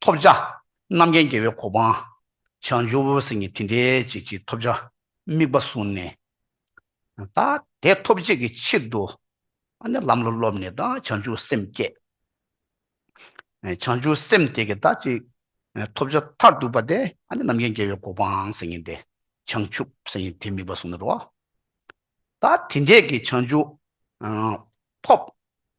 ཐོབ་བྱ། རྣམ་མཁྱེན་རྒྱལ་བའི་གོ་འཕང། བྱང་ཆུབ་སེམས་ཉིད་དེ་འདྲའི་བྱེད་ཅིང་ཐོབ་བྱ་དམིགས་པ་བཟུང་ནས། དེ་ཐོབ་བྱེད་ཀྱི་ཕྱིར་དུ་ལམ་ལ་སློབ་ནས་བྱང་ཆུབ་སེམས་བསྐྱེད། བྱང་ཆུབ་སེམས་དེ་གིས་ཐོབ་བྱ་མཐར་ཐུག་པ་དེ་རྣམ་མཁྱེན་རྒྱལ་བའི་གོ་འཕང་སེམས་ཉིད་དེ་བྱང་ཆུབ་སེམས་ཉིད་དེ་དམིགས་པ་བཟུང་ནས་རོ། དེ་འདྲས་ཀྱི་བྱང་ཆུབ་ཐོབ།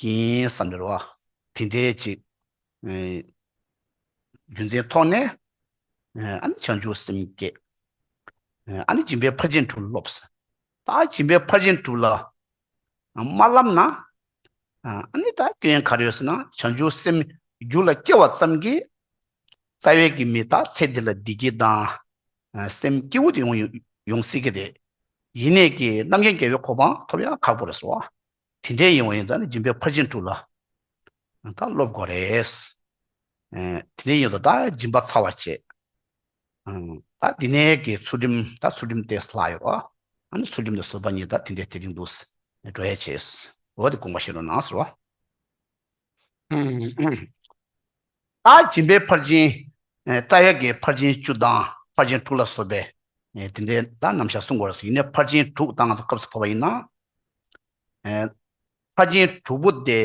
ཡིན་བསམ་པའི་རོ། དེ་འདྲའི་ཅིག། རྒྱུ་མཚན་ཐོགས་ནས། ཨ་ནི་བྱང་ཆུབ་སེམས་བསྐྱེད། ཨ་ནི་སྦྱིན་པའི་ཕར་ཕྱིན་དྲུག་སློབས། ད་སྦྱིན་པའི་ཕར་ཕྱིན་དྲུག་ལ་མ་བསླབས་ན། ཨ་ནི་ད་སྐྱོན་ག་རེ་ཡོད་ཟེར་ན་བྱང་ཆུབ་སེམས་རྒྱུད་ལ་སྐྱེ་བ་ཙམ་གྱིས་རྩ་བའི་གི་མི་དག་ཚེ་འདི་ལ་བདེ་སྐྱིད་དང་སེམས་སྐྱིད་བོ་དེ་ཡོང་སྲིད་ཀྱི་རེད། ཡིན་ནས་ཀྱི་རྣམ་མཁྱེན་རྒྱལ་བའི་གོ་འཕང་ཐོབ་ཡང་ཁག་པོ་རེད་སོ། དེ་འདྲའི་ཡིན་བ་ཡིན་ཙང་ནི་སྦྱིན་པའི་ཕར་ཕྱིན་དྲུག་ལ་དང་སློབ་དགོས་རེད། དེ་འདྲའི་ཡིན་ཙང་ད་སྦྱིན་པ་ཚར་བར་བྱེད། ད་འདི་ནས་ཀྱི་ཚུལ་ཁྲིམས་ད་ཚུལ་ཁྲིམས་ཏེ་ལྷག་ཡོད། ཨ་ནི་ཚུལ་ཁྲིམས་ནི་བཟོད་པ་ཉིད་ད་དེ་འདྲའི་དེ་རིང་འདུག། འགྲོ་ཡས་བྱེད། འོ་དེ་དགོངས་པ་བཞིན་རོ་ན་ཟེར་བ། སྦྱིན་པའི་ཕར་ཕྱིན། རྩ་ཡལ་གའི་ཕར་ཕྱིན་བཅུ་དང་ཕར་ཕྱིན་དྲུག་ལ་སོགས་པས། དེ་འདྲའི་ལ་རྣམ་བཞག་གསུངས་པར་ཡིན་ནས་ཕར་ཕྱིན་དྲུག་དང་སྐབས་སུ་བབ་པ་ཡིན་ན། ཕར་ཕྱིན་དྲུག་པོ་དེ་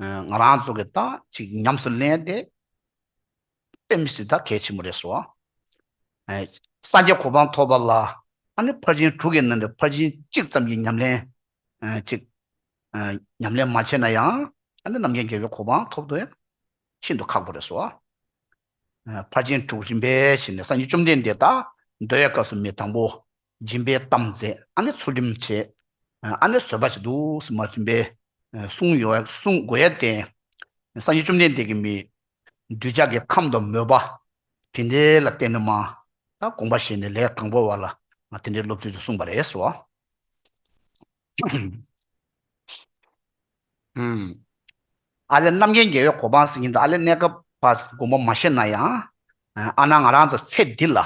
ང་རང་ཚོ་གིས་ད་ཅིག་ཉམས་སུ་ལེན་ཏེ་དཔེ་མི་སྲིད་ད་གལ་ཆེན་པོ་རེད་སོ། སངས་རྒྱས་གོ་འཕང་ཐོབ་པ་ལ་ཨ་ནི་ཕར་ཕྱིན་དྲུག་གི་ནང་ནས་ཕར་ཕྱིན་གཅིག་ཙམ་གྱི་ཉམས་ལེན་ཅིག་ཉམས་ལེན་མ་བྱས་ན་ཡང་ཨ་ནེ་རྣམ་མཁྱེན་རྒྱལ་བའི་གོ་འཕང་ཐོབ་ཏུ་ཤིན་ཏུ་ཁག་པོ་རེད་སོ། ཕར་ཕྱིན་དྲུག་རིམ་པས་ཕྱིན་ནས་སངས་རྒྱས་བཅོམ་ལྡན་འདས་དང་ཟློས་བའི་སྐབས་སུ་མི་དང་པོ་སྦྱིན་པའི་གཏམ་མཛད་ཨ་ནེ་ཚུལ་ཁྲིམས་བྱས་ཨ་ནེ་བཟོད་པ་བྱེད་དུ་སུ་མ་ཐོན་པས་སྲུང་དགོས་ཡས་བརྟེན་སངས་རྒྱས་བཅོམ་ལྡན་འདས་ཀྱིས་མི་གདུལ་བྱ་གི་ཁམས་དང་མོས་པ་དེ་འདྲའི་ལ་བརྟེན་ནས་མ་དགོངས་པ་བཞེས་ནས་ལས་དང་པོ་བ་ལ་དེ་འདྲའི་སློབ་ཚུལ་དུ་གསུངས་པ་རེད་སོ། ཨ་ལས་རྣམ་རྒྱལ་རྒྱལ་བའི་གོ་འཕང་ཟིན་མཁན་དུ་ཨ་ལས་གནས་སྐབས་པ་མགོན་པོ་མ་ཤེས་ན་ཡང་ཨ་ན་ང་རང་ཚོ་ཚེ་འདི་ལ་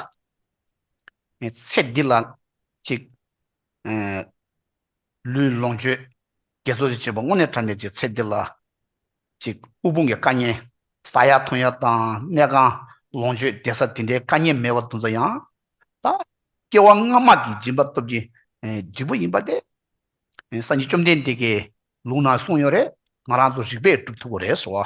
ཚེ་འདི་ལ་ཅིག་ལུས་ལོངས་སྤྱོད་རྒྱས་གསོ་བྱེད་པ་དངོས་གནས་དྲན་པའི་ཅིག་ཚེ་འདི་ལ་གཅིག་དབུལ་ཕོངས་ཀྱི་དཀའ་ཉེན། ས་ཡག་ཐོན་ཡག་དང་གནས་གང། ལོངས་སྤྱོད་བདེ་ས་དེ་འདྲའི་དཀའ་ཉེན་མེད་པར་འདུག་མཚོ་ཡང་དང། སྐྱེ་བ་སྔ་མ་གི་སྦྱིན་པ་སྟོབས་ཀྱི་འབྲས་བུ་ཡིན་པ་སྟེ། སངས་རྒྱས་བཅོམ་ལྡན་འདས་ཀྱིས་ལུང་ན་གསུངས་ཡོད་རེད་ང་རང་ཚོ་རིག་པས་སྒྲུབ་ཐུབ་པོ་རེད་ཟེར་བ།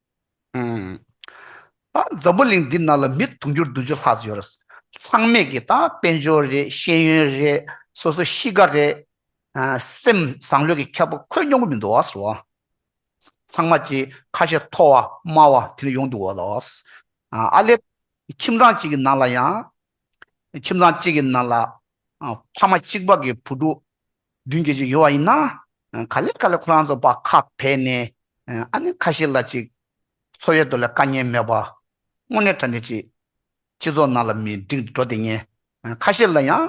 ད་འཛམ་བུ་གླིང་འདི་ནང་ལ་མི་དུང་ཕྱུར་བདུན་ཅུ་ལྷག་ཙམ་ཡོད་རེད། ཚང་མས་ཀྱི་ད་དཔལ་འབྱོར་རེད་ཤེས་ཡོན་རེད་སོ་སོ་གཤིས་ཀ་རེད། སེམས་བཟང་ལོས་ཀྱི་ཁྱབ་པོ་ཁོད་མྱོང་གི་མི་འདུག་ཨ་ཟེར་བ། ཚང་མ་ཀྱི་ཁ་ཤས་མཐོ་བ་དམའ་བ་དེ་ལ་ཡོང་འདུག་བ་ལ། ཨ་ལེ། ཁྱིམ་ཚང་གཅིག་གི་ནང་ལ་ཡང། ཁྱིམ་ཚང་གཅིག་གི་ནང་ལ། ཕ་མ་གཅིག་པ་གི་བུ་ཕྲུག། མདུན་བསྐྱོད་ཅིག་ཡོང་བ་ཡིན་ན། ག་ལེར་ག་ལེར་ཁོ་རང་ཚོ་བག་ཁ་བེད་ནས་ཨ་ནེ་ཁ་ཤས་ལ་ཅིག། འཚོ་ཡོད་དོ་ལས་དཀའ་ཉེན་མེད་པ། དངོས་གནས་དྲ་འདྲེ་ཅིག། སྤྱི་ཚོགས་ནང་ལ་མི་འགྲིག་འགྲོ་དེ་ངན། ཁ་ཤས་ལ་ཡང།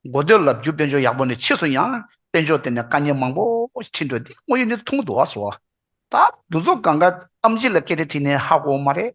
མགོ་སྟོད་ལབ་རྒྱུ་དཔེ་འཇོག་ཡག་པོ་ནི་ཕྱིས་སུ་ཡང་དཔེ་འཇོག་དེ་ནས་དཀའ་ཉེན་མང་པོ་ཞིག་འཕྲིན་འགྲོ་དེ་དངོས་ཡོད་ནི་ཐུང་དུ་བ་སོ། ད་འདུ་ཚོགས་གང་ག་ཨམ་ཅི་ལ་སྐད་དེ་དྲིས་ནས་ཧ་གོ་མ་རེད།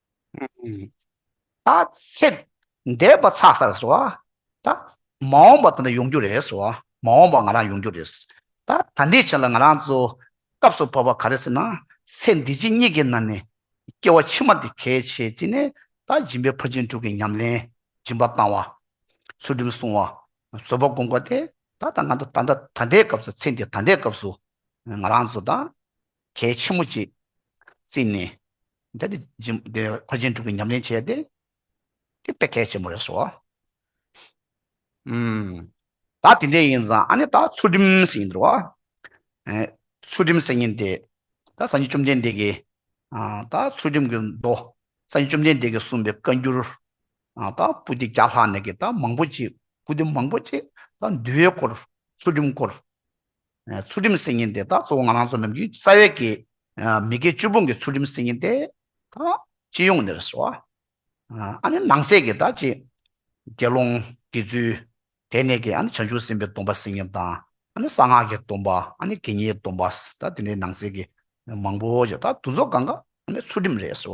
ད་ཚེ་འདས་པ་ཚ་ས་རེད་སོ། ད་མ་འོངས་པ་དེ་འདྲ་ཡོང་རྒྱུ་རེད་སོ། མ་འོངས་པ་ང་རང་ཡོང་རྒྱུ་རེད། ད་ད་འདི་ཆ་ལ་ང་རང་ཚོ་སྐབས་སུ་བབས་པ་ག་རེ་ཟེར་ན། ཚེ་འདི་ཕྱི་གཉིས་ཀྱི་ནང་ནས་སྐྱེ་བ་ཕྱི་མ་འདི་གལ་ཆེ་བྱས་ནས་ད་སྦྱིན་པའི་ཕུར་ཆེན་དྲུག་གི་ཉམས་ལེན་སྦྱིན་པ་བཏང་བ། ཚུལ་ཁྲིམས་བསྲུང་བ། བཟོད་པ་བསྒོམ་དགོས་ཏེ་ད་ད་ང་ཚོ་ད་ད་ད་ལྟའི་སྐབས་སུ་ཚེ་འདི་ད་ལྟའི་སྐབས་སུ་ང་རང་ཚོ་ད། གལ་ཆེན་མོ་གཅིག་བརྩིས་ནས་འདི་ནི་འཁོར་ཆེན་དྲུག་གི་ཉམས་ལེན་བྱས་ཏེ་དེ་དཔེ་གལ་ཆེན་མོ་རེད་ཟོ། ད་དེ་འདྲས་ཡིན་ཙང་ཨ་ནི་ད་ཚུལ་ཁྲིམས་སུ་ཡིན་འདུག་ཨ། ཚུལ་ཁྲིམས་སུ་ཡིན་ཏེ་ད་སངས་རྒྱས་བཅོམ་ལྡན་འདས་ཀྱིས་ད་ཚུལ་ཁྲིམས་ཀྱི་མདོ་སངས་རྒྱས་བཅོམ་ལྡན་འདས་ཀྱིས་གསུངས་པའི་བཀའ་འགྱུར་ད་པུ་སྟི་བརྒྱ་ལྷག་ནས་ཀྱི་ད་མང་པོ་ཅིག་པུ་སྟི་མང་པོ་ཅིག་ད་འདུལ་བའི་སྐོར་ཚུལ་ཁྲིམས་སྐོར་ཚུལ་ཁྲིམས་སྲིད་ཉིན་དེ་དག་གཙོ་བོ་ང་རང་ཚོ་ནམ་རྒྱུན་རྩ་བའི་གི་མི་དགེ་བཅུ་སྤོང་གི་ཚུལ་ཁྲིམས་སྲིད་ཉིན་དེ་དག་སྤྱི་ཡོངས་ནས་རེད་སོ། ཨ་ནི་ནང་གསེས་གི་དག་ཅིག་དགེ་སློང་དགེ་ཚུལ་དེ་ནས་གི་ཨ་ནི་བྱང་ཆུབ་སེམས་དཔའི་སྡོམ་པ་སྲིད་ཉིན་དང་ཨ་ནི་གསང་སྔགས་ཀྱི་སྡོམ་པ་ཨ་ནི་དགེ་བསྙེན་སྡོམ་པ་དག་དེ་འདྲའི་ནང་གསེས་གི་མང་པོ་ཅིག་དག་དུ་ཚོགས་གང་ག་ཨ་ནི་ཚུལ་ཁྲིམས་རེད་སོ།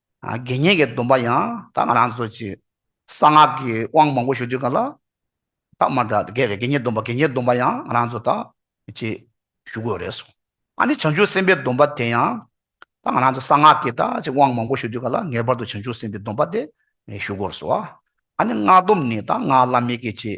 དགེ་བསྙེན་གྱི་སྡོམ་པ་ཡང་དག་ང་རང་ཚོ་ཀྱིས་གསང་སྔགས་ཀྱི་དབང་མང་པོ་ཞུ་དུས་གང་ལ་དག་མ་དགེ་བའི་དགེ་བསྙེན་སྡོམ་པ་དགེ་བསྙེན་སྡོམ་པ་ཡང་ང་རང་ཚོ་དག་ཅེས་ཞུ་དགོས་རེད་གསུངས། ཨ་ནི་བྱང་ཆུབ་སེམས་དཔའི་སྡོམ་པ་དེ་ཡང་དག་ང་རང་ཚོ་གསང་སྔགས་ཀྱི་དག་ཅེས་དབང་མང་པོ་ཞུ་དུས་གང་ལ་ངེས་པར་དུ་བྱང་ཆུབ་སེམས་དཔའི་སྡོམ་པ་དེ་ཞུ་དགོས་རེད་གསུངས། ཨ་ནི་སྔགས་སྡོམ་ནི་དག་སྔགས་བླ་མེད་ཀྱི་ཅེས་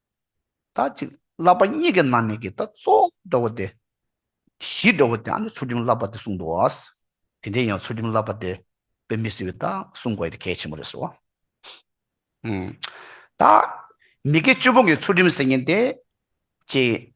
ད་ཅིག་བསླབ་པ་གཉིས་ཀྱི་ནང་ནས་ཀྱི་ད་གཙོ་བོ་འགྲོ་བ་སྟེ། གཞི་འགྲོ་བ་དེ་ཨ་ནི་ཚུལ་ཁྲིམས་བསླབ་པ་དེ་གསུངས་འདུག་ཨ། དེ་འདྲའི་ཡང་ཚུལ་ཁྲིམས་བསླབ་པ་དེ་དཔེ་མི་སྲིད་པས་ད་གསུང་དགོས་དེ་གལ་ཆེན་པོ་རེད་ཟེར་བ། ད་མི་དགེ་བཅུ་པོ་འགའི་ཚུལ་ཁྲིམས་ཟེར་མཁན་དེ། ཅེས།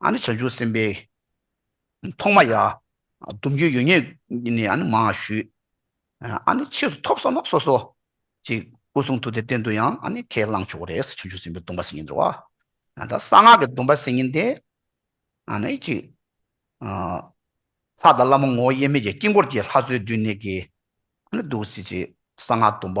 ཨ་ནི་བྱང་ཆུབ་སེམས་དཔའི་ཐོག་མ་ཡ། སྡུམ་རྒྱུ་ཡོད་ཉེས་ནི་ཨ་ནི་མ་ཞུས། ཨ་ནི་ཕྱིས་སུ་ཐོབ་བསམ་ན་སོ་སོ། ཅིག། སྐུ་གསུང་ཐུགས་ཏེ་གཏན་དུ་ཡང་ཨ་ནི་ཁས་བླངས་ཆོག་གོ་རེ་ས་བྱང་ཆུབ་སེམས་དཔའི་སྡོམ་པ་སེམས་ཉིད་འདྲི་བ། ཨ་ད་གསང་སྔགས་ཀྱི་སྡོམ་པ་སེམས་ཉིད་དེ། ཨ་ནི་ཅིག། ལྷ་དང་བླ་མ་ངོ་བོ་དབྱེར་མེད་ཀྱི་དཀྱིལ་འཁོར་གྱི་ལྷ་བཅུའི་སྡུད་གནས་ཀྱིས་ཨ་ནི་བསྡུ་བྱེད་ཅིག་གསང་སྔགས་སྡོམ་པ།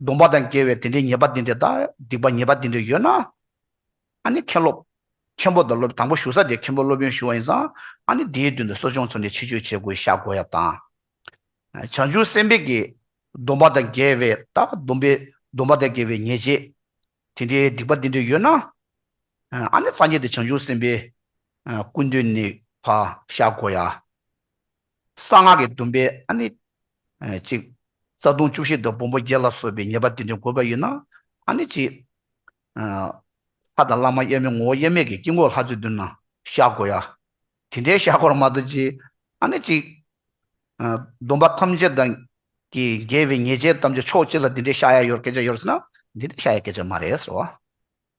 སྡོམ་པ་དང་འགལ་བའི་དེ་འདྲའི་ཉེས་པ་འདི་འདྲའི་དང་སྡིག་པ་ཉེས་པ་འདི་འདྲའི་ཡོད་ན། ཨཱ་ནི་མཁན་སློབ། མཁན་པོ་དང་སློབ་དང་པོ་ཞུ་ས་དེ་མཁན་པོ་སློབ་ཡོན་ཞུ་བ་ཡིན་ཙང་ཨཱ་ནི་དེའི་མདུན་དུ་གསོ་སྦྱོང་ཚུར་ནས་ཕྱི་བཅོས་བྱེད་དགོས་ཤ་དགོས་ཡ་དང། བྱང་ཆུབ་སེམས་དཔས་ཀྱི། སྡོམ་པ་དང་འགལ་བའི་དང་སྡོམ་པའི་སྡོམ་པ་དང་འགལ་བའི་ཉེས་བྱས་དེ་འདྲའི་སྡིག་པ་འདི་འདྲའི་ཡོད་ན། ཨཱ་ནི་སངས་རྒྱས་དེ་བྱང་ཆུབ་སེམས་དཔའི། སྐུ་མདུན་ནས་བག་ཤ་དགོས་ཡ། གསང་སྔགས་ཀྱི་སྡོམ་པའི་ཨ་ནི་གཅིག། རྩ་ལྟུང་བཅུ་བཞི་དང་སྦོམ་པོ་བརྒྱད་ལ་སོགས་པའི་ཉེས་པ་དེ་འདྲའི་འགོད་པ་ཡོད་ན་ཨ་ནི་གཅིག། ལྷ་དང་བླ་མ་དབྱེར་མེད་ངོ་བོ་དབྱེར་མེད་ཀྱི་དཀྱིལ་འཁོར་ལྷ་བཙུན་བསྡུ་ན་བཤགས་དགོས་ཡ། དེ་འདྲའི་བཤགས་སྐོར་མ་དོ་ཅི། ཨ་ནི་གཅིག། སྡོམ་པ་ཐམས་ཅད་དང་གི་འགལ་བའི་ཉེས་བྱས་ཐམས་ཅད་ཕྱོགས་གཅིག་ལ་དེ་འདྲའི་བཤགས་ཡ་ཡོད་སྐད་ཆ་ཡོད་ཟེར་ན་དེ་འདྲའི་བཤགས་ཡ་སྐད་ཆ་མ་རེད་ཟེར་བ།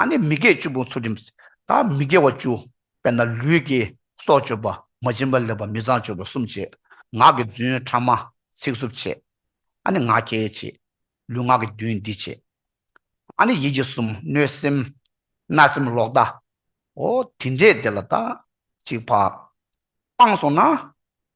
ཨ་ནི་མི་དགེ་བཅུ་པོ་ཚུལ་ཁྲིམས་དང་མི་དགེ་བ་བཅུ་དཔེར་ན་ལུས་ཀྱི་སྲོག་གཅོད་པ་མ་བྱིན་པ་ལེགས་པ་མི་བཟང་སྤྱོད་པ་གསུམ་བྱེད། ངག་གི་རྫུན་ཕྲ་མ་ཚིག་རྩུབ་བྱེད། ཨ་ནི་ང་རྒྱལ་བྱེད། ལུས་ངག་གི་རྡུལ་འདི་བྱེད། ཨ་ནི་ཡིད་ཀྱི་གསུམ་གནོད་སེམས་རྣག་སེམས་ལོག་ལྟའོ། དེ་འདྲས་དེ་ལ་དག་ཅིག་བག། སྤངས་སོང་ན།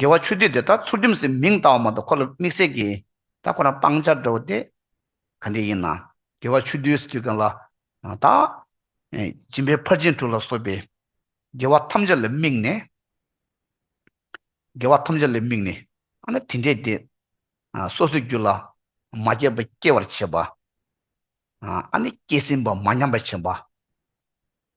དགེ་བ་ཆོས་སྡུད་དེ་ད་ཚུར་རྒྱུམ་སེ་མིང་བཏགས་བ་མ་གཏོགས་ཁོ་ལ་དམིགས་བསལ་གྱི་ད་ཁོ་རང་སྤང་བྱར་འགྲོ་བ་དེ་ག་འདྲས་ཡིན་ནམ། དགེ་བ་ཆོས་སྡུད་སེ་དུས་གང་ལ་ད། སྦྱིན་པའི་ཕར་ཕྱིན་དྲུག་ལ་སོགས་པའི་དགེ་བ་ཐམས་ཅད་ལ་དམིགས་ནས། དགེ་བ་ཐམས་ཅད་ལ་དམིགས་ནས་ཨ་ན་དེ་འདྲས་དེ། སོ་སོའི་རྒྱུད་ལ་མ་སྐྱེས་པ་སྐྱེ་བར་བྱེད་པ། ཨ་ནི་སྐྱེས་ཟིན་པ་མ་ཉམས་པར་བྱེད་པ།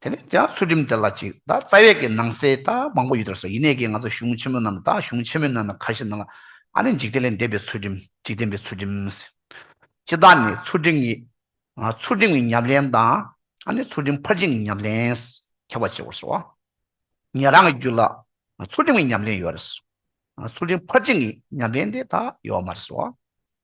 དེ་ནས་དེའང་ཚུལ་ཁྲིམས་དེ་ལ་གཅིག་དང་རྩ་བའི་གི་ནང་གསེས་དང་མང་པོ་ཡོད་དར་སོ་ཡིན་ནས་གི་ང་ཚོ་གཞུང་ཆེན་མོ་རྣམས་དང་གཞུང་ཆེན་མོའི་ནང་ན་ཁ་ཤས་ན་ལ་ཨ་ནི་འཇིག་རྟེན་ལས་འདས་པའི་ཚུལ་ཁྲིམས་འཇིག་རྟེན་པའི་ཚུལ་ཁྲིམས། སྤྱི་དང་ནི་ཚུལ་ཁྲིམས་ཀྱི། ཚུལ་ཁྲིམས་ཀྱི་ཉམས་ལེན་དང་ཨ་ནི་ཚུལ་ཁྲིམས་ཕར་ཕྱིན་གྱི་ཉམས་ལེན་ཁྱབ་པར་བྱེད་པར་སོ། ངེད་རང་གི་རྒྱུད་ལ་ཚུལ་ཁྲིམས་ཀྱི་ཉམས་ལེན་ཡོད་རེད། ཚུལ་ཁྲིམས་ཕར་ཕྱིན་གྱི་ཉམས་ལེན་དེ་དག་ཡོད་མ་རེད་སོ།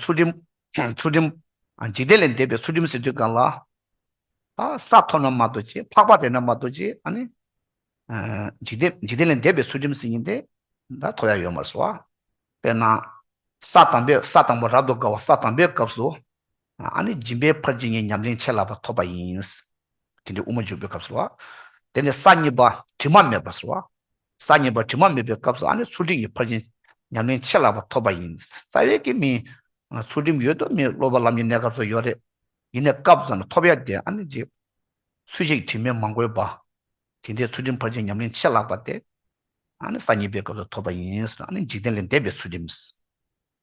ཚུལ་ཁྲིམས། ཚུལ་ཁྲིམས། འཇིག་རྟེན་ལས་འདས་པའི་ཚུལ་ཁྲིམས་ཟེར་དུས་གང་ལ། ས་མཐོ་ན་མ་རྡོ་རྗེ་འཕགས་པ་རེད་ན་མ་རྡོ་རྗེ་ཨ་ནི། འཇིག་རྟེན་འཇིག་རྟེན་ལས་འདས་པའི་ཚུལ་ཁྲིམས་ཟེར་ཉིན་དེ་འདྲ་མཐོ་ཡ་ཡོད་མ་རེད་སོ། དཔེར་ན། ས་དང་པོས་ས་དང་པོ་རབ་ཏུ་དགའ་བ་ས་དང་པོའི་སྐབས་སུ། ཨ་ནི་སྦྱིན་པའི་ཕར་ཇི་སྙེད་ཉམས་ལེན་ཆད་ལ་བ་ཐོབ་པ་ཡིན། དེ་འདྲའི་དབུ་མ་འཇུག་པའི་སྐབས་ཟེར་བ། དེ་ནས་ས་གཉིས་པ་དྲི་མ་མེད་པ་ཟེར་བ། གསར་རྙེད་པ་དྲི་མ་མེད་པའི་སྐབས་སུ་ཨ་ནི་ཚུལ་ཁྲིམས་ཀྱི་ཕར་ཕྱིན་ཉམས་ལེན་ཆེ་ལགས་པ་ཐོབ་པ་ཡིན། རྩ་བའི་དགེ་མིན། ཚུལ་ཁྲིམས་ཡོད་དུ་མི་སློབ་པ་ལམ་གྱི་གནས་སྐབས་སུ་ཡོད་རེད། ཡིན་ནས་སྐབས་སུ་ཙམ་ལ་ཐོབ་ཡ་དེ་ཨ་ནི་འཇིགས། ཚུལ་ཤེས་ཀྱི་དྲི་མས་མ་གོས་པ། དེ་འདྲའི་ཚུལ་ཁྲིམས་ཕར་ཕྱིན་ཉམས་ལེན་ཆེ་ལགས་པ་དེ་ཨ་ནི་གསར་རྙེད་པའི་སྐབས་སུ་ཐོབ་པ་ཡིན། ཨ་ནི་འཇིག་རྟེན་ལས་འདས་པའི་ཚུལ་ཁྲིམས།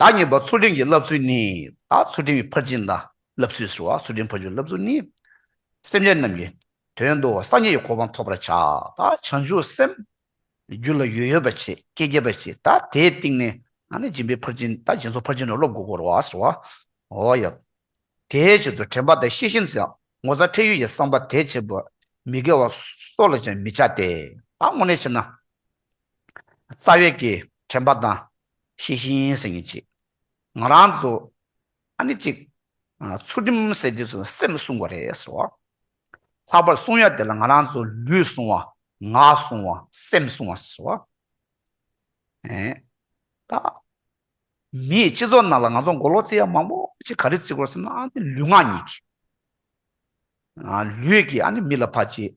བདག་ཉིད་པ་ཚུལ་ཁྲིམས་ཀྱི་བསླབ་ཚུལ་ནི། བདག་ཚུལ་ཁྲིམས་ཀྱི་ཕར་ཕྱིན་དང་བསླབ་ཚུལ་ཟེར་བ། ཚུལ་ཁྲིམས་ཕར་ཕྱིན་བསླབ་ཚུལ་ནི། སེམས་ཅན་རྣམས་ཀྱི་དོན་དུ་སངས་རྒྱས་ཀྱི་གོ་འཕང་ཐོབ་པར་བྱ། བདག་བྱང་ཆུབ་སེམས། རྒྱུད་ལ་ཡོད་ཡོད་པར་བྱེད་སྐད་རྒྱས་པར་བྱེད་བདག་དེའི་སྟེང་ནས་ང་ནི་སྦྱིན་པའི་ཕར་ཕྱིན་བདག་སྦྱིན་སོགས་ཕར་ཕྱིན་ནི་སློབ་དགོས་སྐོར་བ་ཟེར་བ། འོ་ཡ། དེའི་ཕྱིར་དུ་དྲན་པ་དང་ཤེས་བཞིན་ཟེར། ངོ་ཚ་ཁྲེལ་ཡོད་ཀྱི་བསམ་པ་དེ་བྱེད་པར་མི་དགེ་བ་སོགས་ལ་ཅང་མི་བྱ་སྟེ། བདག་དངོས་གནས་བྱེད་ན། རྩ་བའི་གི་དྲན་པ་དང་ཤེས་བཞིན་སེམས་ཉིད་གཅིག། ང་རང་ཚོ་ཨ་ནི་གཅིག། ཚུལ་ཁྲིམས་སེལ་དུས་སུ་སེམས་བསྲུང་བ་རེད་ཟེར་བ། ལྷག་པར་བསྲུང་ཡ་དེ་ལ་ང་རང་ཚོ་ལུས་བསྲུང་བ་ངག་བསྲུང་བ་སེམས་བསྲུང་བ་ཟེར་བ། ད་མིའི་སྤྱི་ཚོགས་ནང་ལ་ང་ཚོ་མགོ་ལོག་རྩི་ཡ་མང་པོ་ཞིག་ག་རེ་རྩི་དགོས་ཟེར་ན་ཨ་ནི་ལུས་ངག་གཉིས་ཀྱིས། ལུས་ཀྱིས་ཨ་ནི་མི་ལ་ཕ་གཅེས།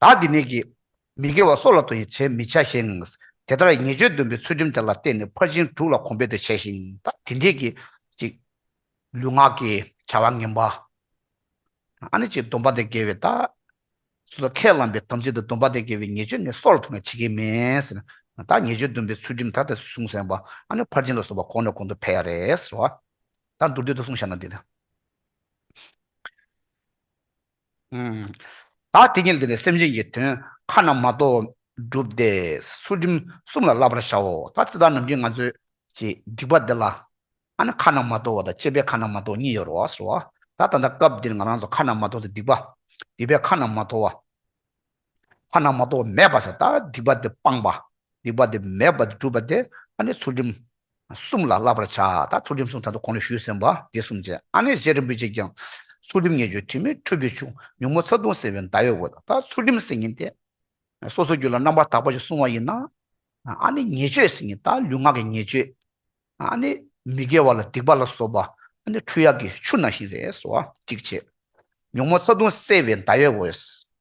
བདག་འདི་ནས་ཀྱིས། མི་དགེ་བ་སྲོག་ལ་དོ་ཡི་བྱེད་མི་བྱ་ཞིང། དེ་ལྟར་ཉེས་སྤྱོད་འདོན་པའི་ཚུལ་ཁྲིམས་དེ་ལ་བརྟེན་ནས་ཕར་ཕྱིན་དྲུག་ལ་གོམས་པས་དེ་བྱས་ཤིང་བདག་འདི་ནས་ཀྱིས། གཅིག། ལུས་ངག་གི་བྱ་བ་ངན་པ། ཨ་ནི་གཅིག་སྡོམ་པ་དང་འགལ་བའི་ལྟ། སུ་ལ་ཁས་བླངས་པའི་དམ་ཚིག་དང་སྡོམ་པ་དང་འགལ་བའི་ཉེས་སྤྱོད་ནི་སྲོག་ལ་ཐུག་ན་བྱེད་ཀྱི་མེད། བདག་ཉེས་སྤྱོད་འདོན་པའི་ཚུལ་ཁྲིམས་ད་ལྟ་སུས་བསྲུངས་སེམས་པ་ཨ་ནི་ཕར་ཕྱིན་ལ་སོགས་པ་གོང་ནས་གོང་དུ་འཕེལ་ཡ་རེད། ཟེར་བ། བདག་མདོར་བསྡུས་ལྟར་བསྲུང་བྱ་ན་འདི་ལྟ། བདག་དེ་ཉིད་དེ་ནས་སེམས་ཅན་གྱི་དོན་ཁ་ན་མ་ཐོ་བསྒྲུབས་ཏེ་ཚུལ་ཁྲིམས་གསུམ་ལ་བསླབ་པར་བྱའོ། ད་ཙི་ད་ནམ་གྱི་ང་ཚོས་ཀྱི་སྡིག་པ་འདི་ལ། ཨ་ནི་ཁ་ན་མ་ཐོ་བ་དང་སྤྱད་པའི་ཁ་ན་མ་ཐོ་གཉིས་ཡོད་རོ་ཟེར་བ། ད་ད་ལྟ་སྐབས་འདིར་ང་རང་ཚོ་ཁ་ན་མ་ཐོ་ཚོ་སྡིག་པ་སྡིག་པའི་ཁ་ན་མ་ཐོ་བ། ཁོ་ན་མ་གཏོགས་མེད་པ་ས་དང་སྡིག་པ་འདི་སྤངས་པ། སྡིག་པ་འདི་མེད་པ་འདི་སྒྲུབ་པ་དེ་ཨ་ནི་ཚུལ་ཁྲིམས་གསུམ་ལ་བསླབ་པར་བྱ་ད་ཚུལ་ཁྲིམས་གསུམ་ད་དུ་གོང་ནས་ཞུས་ཟིན་པ་འདི་གསུམ་བྱས་ཨ་ནི་གཞན་རིན་པོ་ཆེས་ཀྱང། ཚུལ་ཁྲིམས་ངེས་བརྗོད་དྲི་མེད་འཕྲུལ་གྱི་ཆུ་ཉུང་མོ་ཚ་གདུང་སེལ་བའི་མདའ་ཡོད་འོད་ད་ཚུལ་ཁྲིམས་ཟེར་ཉིན་དེ། སོ་སོའི་རྒྱུད་ལ་རྣམ་པར་དག་པ་ཞིག་གསུང་བ་ཡིན་ན། ཨ་ནི་ཉེས་སྤྱོད་ཟེར་ཉིན་ད་ལུས་ངག་གི་ཉེས་སྤྱོད། ཨ་ནི་མི་དགེ་བ་ལ་སྡིག་པ་ལ་སོགས་པ་ཨ་ནི་འཕྲུལ་གཡག་གི་ཆུ་ནང་བཞིན་རེད་ཟེར་བ་གཅིག་བྱས། ཉུང་མོ་ཚ་གདུང་སེལ་བའི་མདའ་ཡོད་འོད།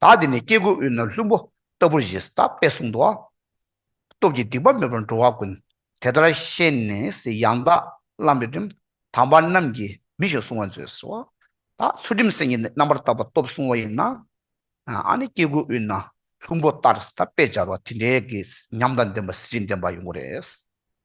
བདག་འདི་ནི་སྐྱེ་དགུའི་དབུས་ན་ལྷུན་པོ་ལྟ་བུར་ཞེས་དག་པས་གསུངས། སྟོབས་ཀྱིས་སྡིག་པ་མེད་པར་འགྲོ་བ་ཀུན། དེ་ལྟར་ཤེས་ནས་ཡང་དག་བླངས་པའི་རིམ། དམ་པ་རྣམས་ཀྱིས་མི་གཞུག་བསྲུང་བར་མཛོད། ཟེར་བ་དག་ཚུལ་ཁྲིམས་སེམས་ཀྱི་རྣམ་པར་བརྟགས་པ་སྟོབས་བསྲུང་བ་ཡིན་ན། ཨ་ནི་སྐྱེ་དགུའི་དབུས་ན་ལྷུན་པོ་ལྟར་དག་པས་སྦྱར་བ་དེ་འདྲའི་ཉམས་དང་ལྡན་པ་གཟི་བརྗིད་ལྡན་པ་ཡོང་གི་རེད།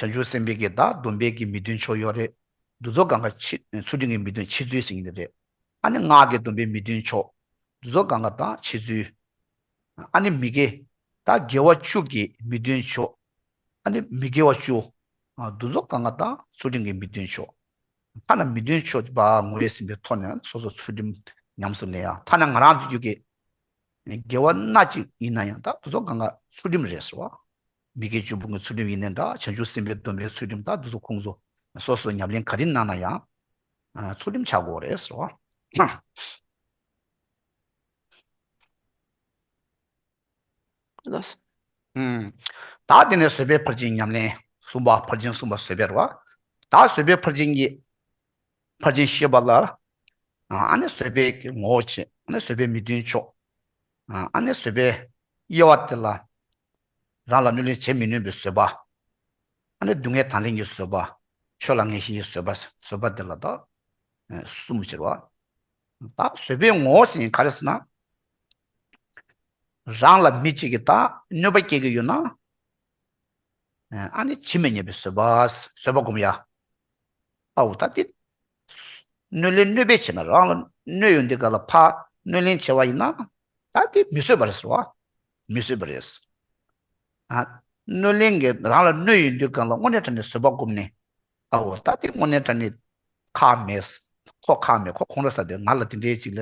བྱང་ཆུབ་སེམས་དཔའི་གྱི་བདག་སྡོམ་པའི་གྱི་མི་སྟོན་ཕྱོགས་ཡོད་རེད། འདུ་ཚོགས་གང་ག་ཆེ་ཚུལ་དྲིན་གྱི་མི་སྟོན་ཆེ་ཚུལ་ཟེར་གྱི་འདི་རེད། ཨ་ནི་སྔགས་ཀྱི་སྡོམ་པའི་མི་སྟོན་ཕྱོགས། འདུ་ཚོགས་གང་ག་བདག་ཆེ་ཚུལ། ཨ་ནི་མི་དགེ། བདག་དགེ་བ་བཅུ་གྱི་མི་སྟོན་ཕྱོགས། ཨ་ནི་མི་དགེ་བ་བཅུ། འདུ་ཚོགས་གང་ག་བདག་ཚུལ་དྲིན་གྱི་མི་སྟོན་ཕྱོགས། ཐ་ན་མི་སྟོན་ཕྱོགས་བ་ངོ་བོས་ཟིན་པའི་ཐོག་ནས་སོ་སོར་ཚུལ་དྲིན་ཉམས་སུ་ལེན་ཡ། ཐ་ན་ང་རང་ཚོའི་རྒྱུད་ཀྱི་དགེ་བ་སྣ་གཅིག་ཡིན་ན་ཡང་དག་འདུ་ཚོགས་གང་ག་ཚུལ་དྲིན་རེད་ཟེར་བ། མི་དགེ་བཅུ་སྤོང་གི་ཚུལ་ཁྲིམས་ཡིན་ནའི་འདྲ་བྱང་ཆུབ་སེམས་དཔའི་སྡོམ་པའི་ཚུལ་ཁྲིམས་དག་འདི་ཚོ་ཁུངས་སོ། སོ་སོའི་ཉམས་ལེན་ག་རེ་གནང་ན་ཡང་ཚུལ་ཁྲིམས་ཆགས་དགོས་རེད་ཟེར་བ། དག་དེ་ནས་བཟོད་པའི་ཕར་ཕྱིན་ཉམས་ལེན་གསུམ་པ་ཕར་ཕྱིན་གསུམ་པ་བཟོད་པའི་རོ། དག་བཟོད་པའི་ཕར་ཕྱིན་གཉིས། ཕར་ཕྱིན་ཤེས་པ་ལ། ཨ་ནི་བཟོད་པའི་ངོ་བོ་ཆེ། ཨ་ནི་བཟོད་པའི་མི་མཐུན་ཕྱོགས། ཨ་ནི་བཟོད་པའི་དབྱེ་བ་དེ་ལ། རང་ལ་གནོད་ལན་བྱེད་མི་ནུས་པའི་བཟོད་པ། ཨ་ནི་སྡུག་བསྔལ་དང་ལྷན་གྱི་བཟོད་པ། ཆོས་ལ་ངེས་ཤེས་ཀྱི་བཟོད་པ། བཟོད་པ་འདི་ལ་དག། གསུམ་ཕྱིར་བ། དག་བཟོད་པའི་ངོ་བོ་ཟིན་ག་རེ་ཟིན་ན། རང་ལ་མི་གཅིག་གི་དག་གནོད་པ་སྐྱེ་གི་ཡོད་ན། ཨ་ནི་ཇི་མི་སྙེད་པའི་བཟོད་པ། བཟོད་པ་བསྒོམ་ཡ། ཨ་འུ་ཐ་ཏི། གནོད་ལན་གནོད་པས་བྱས་ན་རང་ལ་གནོད་ཡོད་འདི་ག་ལ་ཕ་གནོད་ལན་བྱས་བ་ཡིན་ན། ད་དེ་མི་བཟོད་པ་རེད་ཟེར་བ། མི་བཟོད་པ་རེད། སྣོད་གླིང་གི་རང་ལ་སྣོད་ཡོད་དུས་གང་ལ་དངོས་གནས་དྲ་ནས་བཟོད་པ་བསྒོམས་ནས། ཨ་འོ་ད་ལྟའི་དངོས་གནས་དྲ་ནས་ཁག་མེད། ཁོ་ཁག་མེད་ཁོ་ཁོང་ར་ས་དེ་ང་ལ་དེ་འདྲའི་ཅིག་ལ་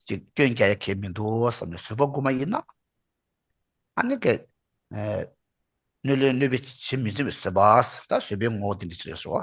ཅིག་སྐྱོན་རྒྱག་ཡ་གལ་མི་འདུག་བསམ་ནས་བཟོད་པ་བསྒོམ་པ་ཡིན། ཨ་ནི་ཀྱེ། སྣོད་གླིང་གནོད་པའི་བྱེད་མི་བརྩོན་པའི་བཟོད་པ། ད་བཟོད་པའི་ངོ་བོ་དེ་འདྲ་ཅིག་རེད་བཟོ།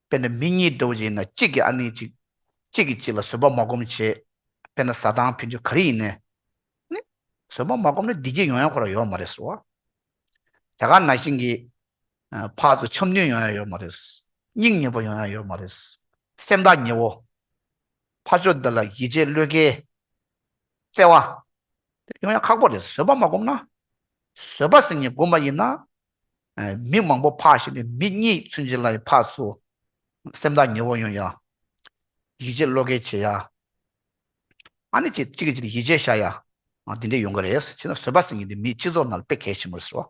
དཔེར་ན་མི་གཉིས་འགྲོ་བཞིན་ཡིན་ན་གཅིག་གིས་ཨ་ནི་གཅིག་གཅིག་གིས་གཅིག་ལ་བཟོད་པ་མ་སྒོམ་བྱས། དཔེར་ན་བཟའ་ཐང་ཕུལ་རྒྱུ་ག་རེ་ཡིན་ནས། ནི། བཟོད་པ་མ་སྒོམ་ན་བདེ་སྐྱིད་ཡོང་ཡ་ཁོ་ར་ཡོད་མ་རེད་ཟོ། དེ་ག་ན་ཤིང་གིས། ཕག་ཚོ་འཆམ་མཐུན་ཡོང་ཡ་ཡོད་མ་རེད། སྙིང་ཉེ་བོ་ཡོང་ཡ་ཡོད་མ་རེད། སེམས་ཐག་ཉེ་བོ། ཕ་ཆོས་འདི་ལ་ཡིད་ཆེས་བློས་འགེལ། བརྩེ་བ། ཡོང་ཡ་ཁག་པོ་རེད་བཟོད་པ་མ་སྒོམ་ན། བཟོད་པ་ཟེར་ནི་སྒོམ་པ་ཡིན་ན། མིག་མང་པོ་འཕགས་ཤིང་མིག་གཉིས་ཚུན་ཆད་ལ་ཡང་འཕགས་སོ། སེམས་དང་ཉེ་བར་ཡོང་ཡང། ཡིད་ཆེས་བློ་སྐྱེད་བྱེད་ཡ། ཨ་ནི་ཅིག་གིས་ཅིག་ལ་ཡིད་ཆེས་བྱ་ཡ། འདི་འདྲས་ཡོང་གི་རེད། བྱས་ན་བཟོད་པ་ཟིན་གྱི་འདུག་མིའི་སྤྱི་ཚོགས་ནང་ལ་དཔེ་གལ་ཆེན་པོ་རེད།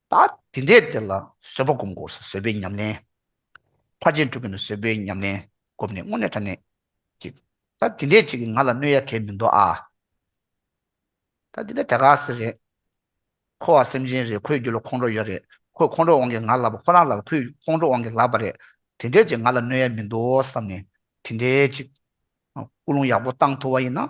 ད་དེ་འདྲའི་དེ་ལ་བཟོད་པ་བསྒོམ་དགོས་སོ་བཟོད་པའི་ཉམས་ལེན། ཕར་ཕྱིན་དྲུག་གི་ནི་བཟོད་པའི་ཉམས་ལེན་བསྒོམས་ནས་སྔོན་གནས་མཐའ་གནས་ཀྱིས། ད་དེ་འདྲའི་ཅིག་གིས་ང་ལ་གནོད་ཡ་གལ་མི་འདུག་ཨ། ད་དེ་འདྲ་དེ་ག་ཟེ་རེད། ཁོ་བ་སེམས་ཅན་རེད་ཁོའི་རྒྱུད་ལ་ཁོང་ཁྲོ་ཡོད་རེད་ཁོས་ཁོང་ཁྲོ་དབང་གིས་ང་ལབ་པ་ཁོ་རང་ལ་ལ་ཁོས་ཁོང་ཁྲོ་དབང་གིས་ལབ་པ་རེད་དེ་འདྲའི་ཅིག་ང་ལ་གནོད་ཡ་མི་འདུག་བསམ་ནས་དེ་འདྲའི་ཅིག། སྐུ་རླུང་ཡག་པོ་བཏང་ཐུབ་བ་ཡིན་ན།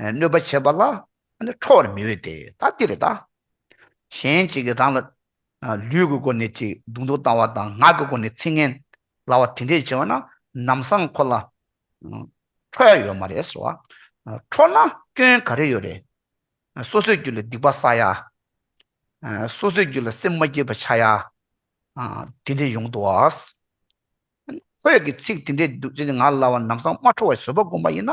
གནོད་པ་བྱེད་པ་ལ་ཁྲོ་བར་མི་འོས་ཏེ་ད་འདིར་བདག་གཞན་གཅིག་གིས་རང་ལ་ལུས་ཀྱི་སྒོ་ནས་ཅིག་གདུང་དུ་བཏང་བ་དང་ངག་གི་སྒོ་ནས་ཚིག་ངན་བསླབ་བ་དེ་འདྲས་བྱས་པ་ན་ནམ་སང་ཁོ་ལ་ཁྲོ་ཡ་ཡོད་མ་རེད་ཟེར་བ། ཁྲོ་ན་སྐྱོན་ག་རེ་ཡོད་རེད། སོ་སོའི་རྒྱུད་ལ་སྡིག་པ་བསགས་ཡ། སོ་སོའི་རྒྱུད་ལ་སེམས་མ་སྐྱིད་པ་ཆགས་ཡ། དེ་འདྲས་ཡོང་དུ་བ། ཁོས་ཀྱི་ཚིག་དེ་འདྲས་འདུག་ཅེས་ངག་ལ་བ་ནམ་སང་མ་འཕྲོ་བའི་བཟོད་པ་བསྒོམ་པ་ཡིན་ན།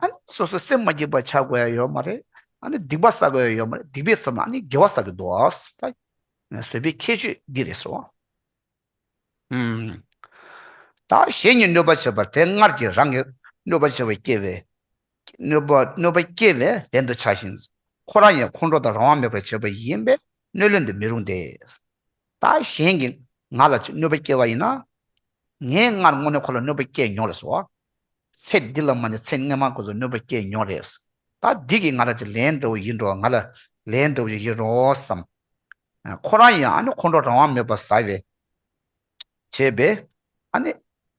ཨ་ནི་སོ་སོའི་སེམས་མ་སྐྱིད་པར་བྱ་དགོས་ཡ་ཡོད་མ་རེད། ཨ་ནི་སྡིག་པ་བསགས་དགོས་ཡ་ཡོད་མ་རེད་སྡིག་པའི་ཚབ་ན་ཨ་ནི་དགེ་བ་བསགས་ཀྱི་འདུག་ཨཱ། བཟོད་པའི་ཁྱད་ཆོས་འདི་རེད་ཟེར་བ། ད་གཞན་གྱིས་གནོད་པ་བྱེད་པར་དེ་སྔར་གྱི་རང་གིས་གནོད་པ་བྱས་པ་སྐྱེ་བས། གནོད་པ་གནོད་པ་སྐྱེ་བས་ལན་དུ་བྱ་ཞིང། ཁོ་རང་ཡང་ཁོང་ཁྲོ་དང་རང་དབང་མེད་པར་བྱས་པ་ཡིན་པས་གནོད་ལན་དུ་མི་རུང་སྟེ། ད་གཞན་གྱིས་ང་ལ་གནོད་པ་བསྐྱལ་བ་ཡིན་ན། ངས་སྔར་དངོས་གནས་ཁོ་ལ་གནོད་པ་བསྐྱལ་མྱོང་རེད་ཟེར། ཚེ་འདི་ལ་མ་ནས་ཚེ་སྔ་མ་གོན་ཚོ་གནོད་པ་བསྐྱལ་མྱོང་རེད། ད་འདི་གིས་ང་ལ་ཅི་ལན་འདྲ་བོ་ཡིན་འགྲོ་བ་ང་ལ་ལན་འདྲ་བོ་ཞིག་ཡིན་རོགས་སམ། ཁོ་རང་ཡང་ཨ་ནི་ཁོང་ཁྲོ་རང་དབང་མེད་པར་ཟ་བས། བྱས་པས། ཨ་ནི།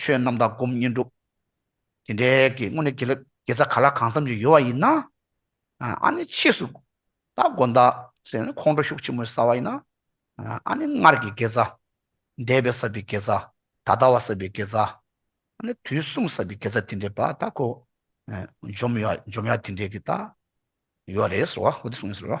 ཆོས་རྣམ་དག་སྒོམ་བསྙེན་སྒྲུབ། དེ་འདྲའི་གི་སྔོན་ནས་དགེ་རྩ་ག་ལ་གང་འཚམ་ཞིག་ཡོད་བ་ཡིན་ན། ཨ་ནི་ཕྱིས་སུ་སྟ་གོན་བདག་སེམས་ནི་ཁོང་ཁྲོ་ཤུགས་ཆེན་པོས་ཟ་བ་ཡིན་ན། ཨ་ནི་སྔར་གྱི་དགེ་རྩ། འདས་པའི་ཟབ་པའི་དགེ་རྩ། ད་ལྟ་བ་ཟབ་པའི་དགེ་རྩ། ཨ་ནི་དུས་གསུམ་ཟབ་པའི་དགེ་རྩ་དེ་འདྲའི་བ་དག་གོ། འཇོམས་ཡ་འཇོམས་ཡ་དེ་འདྲའི་གི་དག་ཡོད་རེད་ཟེར་བ་འོ་དེ་གསུངས་ཡོད་ཟེར་རོ།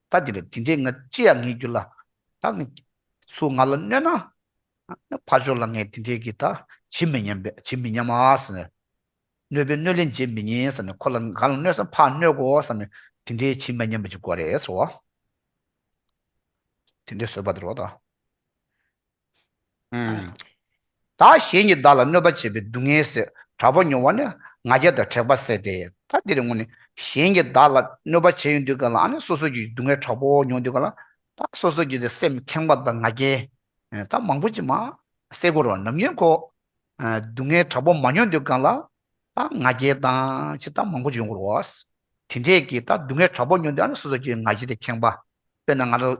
ད་དེ་རེད་དེ་འདྲས་ང་ཅི་ཡང་ངེས་རྒྱུ་ལ་ད་ངས་སུ་ང་ལ་གནོད་ན་ངའི་ཕ་ཇོ་ལ་ངས་དེ་འདྲས་ཀྱི་ད་བྱེད་མི་སྙམ་པས་བྱེད་མི་སྙམ་ཨ་ཟེར་ནས། གནོད་པའི་གནོད་ལན་འཇལ་མི་ཉན་ཟེར་ནས་ཁོ་ལ་ང་ལ་གནོད་ས་ཕ་གནོད་གོ་ཟེར་ནས་དེ་འདྲས་བྱེད་མ་སྙམ་པ་ཅིག་གོ་རེད་ཟེར་བ། དེ་འདྲས་བཟོས་པ་དེ་རོགས་ད། ད་གཞན་གྱིས་བདག་ལ་གནོད་པ་བྱས་པའི་སྡུག་བསྔལ་སེལ། དྲག་པོ་མྱོང་བ་ནི་ང་རྒྱལ་དང་དྲེགས་པ་བསལ་ཏེ། ད་འདིར་དངོས་ནས་གཞན་གྱིས་བདག་ལ་གནོད་པ་བྱས་ཡོང་དུས་གང་ལ་ཨ་ནི་སོ་སོ་ཀྱི་སྡུག་བསྔལ་དྲག་པོ་མྱོང་དུས་གང་ལ། ད་སོ་སོ་ཀྱི་སེམས་ཁེངས་པ་དང་ང་རྒྱལ་ད་མང་པོ་ཅི་མ། སེལ་གོ་རོ་ནམ་ཡིན་ཁོ། སྡུག་བསྔལ་དྲག་པོ་མ་མྱོང་དུས་གང་ལ། ད་ང་རྒྱལ་དང་ཅི་ད་མང་པོ་ཅི་ཡོང་གོ་རོ། དེ་འདྲས་ཀྱིས་ད་སྡུག་བསྔལ་དྲག་པོ་མྱོང་དུས་ཨ་ནི་སོ་སོ་ཀྱི་ང་རྒྱལ་དེ་ཁེངས་པ། དཔེར་ན་ང་རང།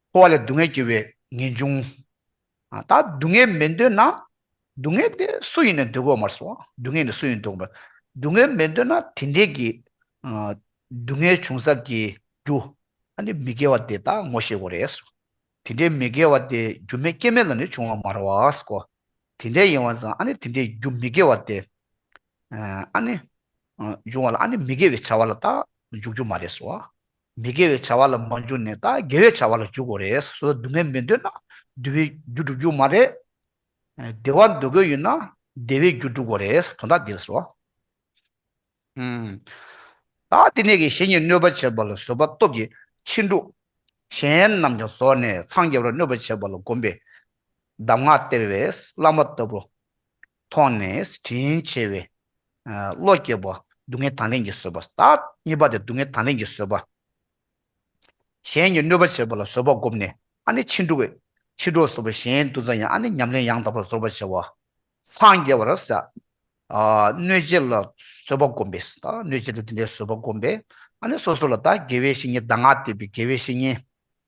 འཁོར་བ་ལས་སྡུག་བསྔལ་སྐྱེ་བའི་ངེས་འབྱུང། ད་སྡུག་བསྔལ་མི་འདོད་ན། སྡུག་བསྔལ་དེ་སུ་ཡིན་ནས་འདོད་གོ་མར་སོང་སྡུག་བསྔལ་ནི་སུ་ཡིན་འདོད་གོ། སྡུག་བསྔལ་མི་འདོད་ན་དེ་འདྲས་ཀྱི། སྡུག་བསྔལ་བྱུང་ས་ཀྱི་རྒྱུ། ཨ་ནི་མི་དགེ་བ་དེ་དག་ངོ་ཤེས་གོ་རེད། དེ་འདྲའི་མི་དགེ་བ་དེ་རྒྱུ་མེད་རྐྱེན་མེད་ལ་ནི་བྱུང་བ་མ་རེད་བ་གོ། དེ་འདྲས་ཡིན་བ་ཙང་ཨ་ནི་དེ་འདྲའི་རྒྱུ་མི་དགེ་བ་དེ། ཨ་ནི། འབྱུང་བ་ལ་ཨ་ནི་མི་དགེ་བའི་བྱ་བ་ལ་དག་འཇུག་རྒྱུ་མ་རེད་སོ། མི་དགེ་བའི་བྱ་བ་ལ་མ་འཇུག་ནས་ད་དགེ་བའི་བྱ་བ་ལ་འཇུག་གོ་རེ་ས་སོ་སྡུག་བསྔལ་མི་འདོད་ན་བསྡུ་བའི་རྒྱུ་བསྒྲུབ་རྒྱུ་མ་རེད། བདེ་བ་འདོད་དགོས་ཡོད་ན་བདེ་བའི་རྒྱུ་བསྒྲུབ་གོ་རེ་ས་དོན་དག་འདི་རེ་ས། ད་དེ་ནས་ཀྱི་གཞན་གྱིས་གནོད་པ་བྱེད་པ་ལ་བཟོད་པ་སྟོབས་ཀྱིས་ཕྱིན་དྲུག། གཞན་རྣམས་ཀྱང་བཟོད་ནས་འཚང་རྒྱ་བར་གནོད་པ་བྱེད་པ་ལ་བསྒོམས་པས། གདམས་ངག་སྟེར་བས་བླ་མ་ལྟ་བུ། མཐོང་ནས་དྲིན་ཆེ་བའི། བློ་སྐྱེས་པ། སྡུག་བསྔལ་དང་ལེན་གྱིས་བཟོད་པ། གཉིས་པ་དེ་སྡུག་བསྔལ་དང་ལེན་གྱིས་བཟོད་པ། གཞན་གྱིས་གནོད་པ་བྱས་པ་ལ་བཟོད་པ་བསྒོམས་ནས་ཨ་ནི་ཕྱིན་དྲུག་བས། ཕྱིན་དྲུག་བཟོད་པ་གཞན་འདུ་འཛའ་ཡང་ཨ་ནི་ཉམས་ལེན་ཡང་དག་པར་བཟོད་པར་བྱ་བ། སངས་རྒྱས་པར་ཟད། གནོད་བྱེད་ལ་བཟོད་པ་བསྒོམས་པས། གནོད་བྱེད་དུ་དེ་འདྲའི་བཟོད་པ་བསྒོམས་པས། ཨ་ནི་སོ་སོ་ལ་དགེ་བའི་བཤེས་གཉེན་གདམས་ངག་བསྟན་པའི་དགེ་བའི་བཤེས་གཉེན།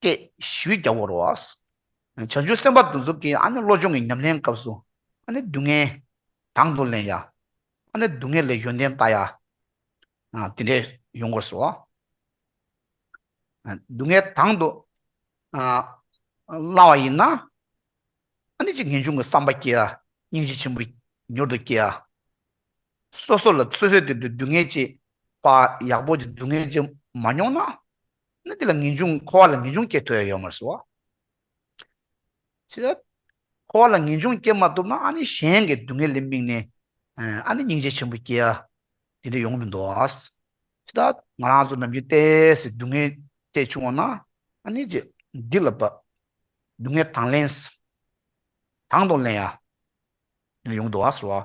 སྐད་ཞི་བའི་རྒྱ་བོར་བ། བྱང་ཆུབ་སེམས་དཔའ་འདུ་འཛོམས་ཀྱི་བློ་སྦྱོང་གི་ཉམས་ལེན་སྐབས་སུ། སྡུག་བསྔལ། དང་དུ་ལེན་ཡ། སྡུག་བསྔལ་ལས་ཡོན་ཏན་བལྟ་ཡ། དེ་འདྲའི་ཡོངས་སྐོར་སོགས། སྡུག་བསྔལ་དང་དུ་བླང་བ་ཡིན་ན། ཅི་སྟེ་ངེས་འབྱུང་གི་བསམ་པ་སྐྱེ་ཡ། སྙིང་རྗེ་ཆེན་པོ་མྱུར་དུ་སྐྱེ་ཡ། སོ་སོ་ལ་སོ་སོའི་དོན་དུ་སྡུག་བསྔལ་ཅེས་པ་ཡག་པོ་ཅིག་སྡུག་བསྔལ་ཅེས་མ་མྱོང་ན། ན་དེ་ལ་ངེས་འབྱུང་འཁོར་བ་ལ་ངེས་འབྱུང་སྐྱེ་ཐུབ་ཡ་ཡོད་མ་སོ། ཅི་ལ། འཁོར་བ་ལ་ངེས་འབྱུང་སྐྱེ་མ་ཐུབ་ན་ཨ་ནི་གཞན་གྱི་སྡུག་བསྔལ་ལས་དམིགས་ནས་ཨ་ནི་སྙིང་རྗེ་ཆེན་པོ་སྐྱེ་ཡ་དེ་འདྲ་ཡོང་མི་འདུག་ཨ། ཅི་ལ། ང་རང་ཚོ་ནམ་རྒྱུན་ལྟས་ཟེར་སྡུག་བསྔལ་ལྟས་བྱུང་བ་ན་ཨ་ནི་རྗེ་འདི་ལ་བབས། སྡུག་བསྔལ་དང་ལེན། དང་དང་ལེན་ཡ། ཡོང་མི་འདུག་ཨ་ཟེར་བ།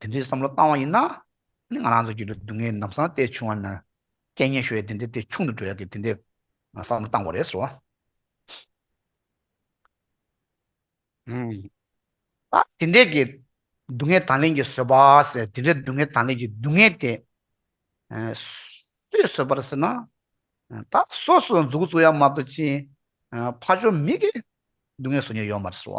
དེ་འདྲའི་བསམ་བློ་བཏང་བ་ཡིན་ན། ང་རང་ཚོ་རྒྱུད་ལ་སྡུག་བསྔལ་ནམ་སང་སྟེ་བྱུང་བ་ན། སྐད་ངན་ཤོད་ཡ་དེ་འདྲའི་དེ་ཆུང་དུ་འགྲོ་ཡ་གི་དེ་འདྲའི་བསམ་བློ་བཏང་བ་རེད་ཟེར་བ། ད་དེ་འདྲའི་གི་སྡུག་བསྔལ་དང་ལེན་གྱི་བཟོད་པ་ཟེར་དེ་འདྲའི་སྡུག་བསྔལ་དང་ལེན་གྱི་སྡུག་བསྔལ་དེ། སུས་བཟོད་པར་ཟེར་ན། ད་སོ་སོས་འཛུགས་བཟོ་ཡ་མ་གཏོགས་ཅི། ཕ་ཆོས་མི་གིས་སྡུག་བསྔལ་བཟོ་ཉེར་ཡོད་མ་རེད་ཟེར་བ།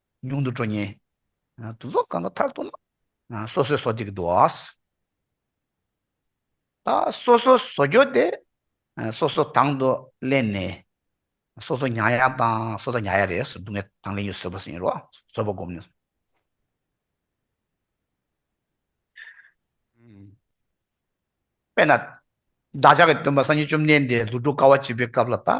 ཉུང་དུ་འགྲོ་ཉེན། དུ་རྫོགས་གང་གི་མཐར་གཏོགས་ན། སོ་སོའི་སོ་ཏིག་དུ། ད་སོ་སོའི་སོ་སྐྱོ་དེ། སོ་སོའི་དང་དུ་གླན་ནས། སོ་སོའི་མྱ་ཡ་དང་སོ་སོའི་མྱ་ཡ་རེད། སྡུག་བསྔལ་དང་ལེན་ཡོད་བཟོད་པ་ཟིན་རོགས། བཟོད་པ་བསྒོམ་ནས། དཔེར་ན། བདག་ཅག་གི་སྟོན་པ་སངས་རྒྱས་བཅོམ་ལྡན་འདས་ལུས་འགྲོ་དཀའ་བ་བྱེད་པའི་སྐབས་ལ་ད།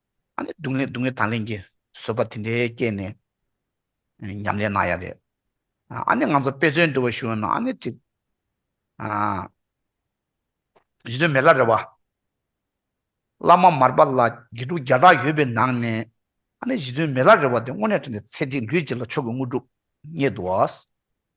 སྡུག་བསྔལ་སྡུག་བསྔལ་དང་ལེན་གྱི་བཟོད་པ་དེ་འདྲའི་སྐྱེས་ནས་ཉམས་ལེན་གནང་ཡ་རེད། ཨ་ནི་ང་ཚོ་དཔེ་མཚོན་འདུལ་བ་ཞུ་ཡོང་ན་ཨ་ནི་ཅིག། གཞི་དོན་མེད་ལ་རེ་བ། བླ་མ་མར་པ་ལ་དགེ་ཕྲུག་བརྒྱ་ཕྲག་ཡོད་པའི་ནང་ནས་ཨ་ནི་གཞི་དོན་མེད་ལ་རེ་བ་དེ་དངོས་གནས་དྲན་ཏེ་ཚེ་འདི་ལུས་བརྗེས་ལ་མཆོག་གི་དངོས་གྲུབ་རྙེད་དོ།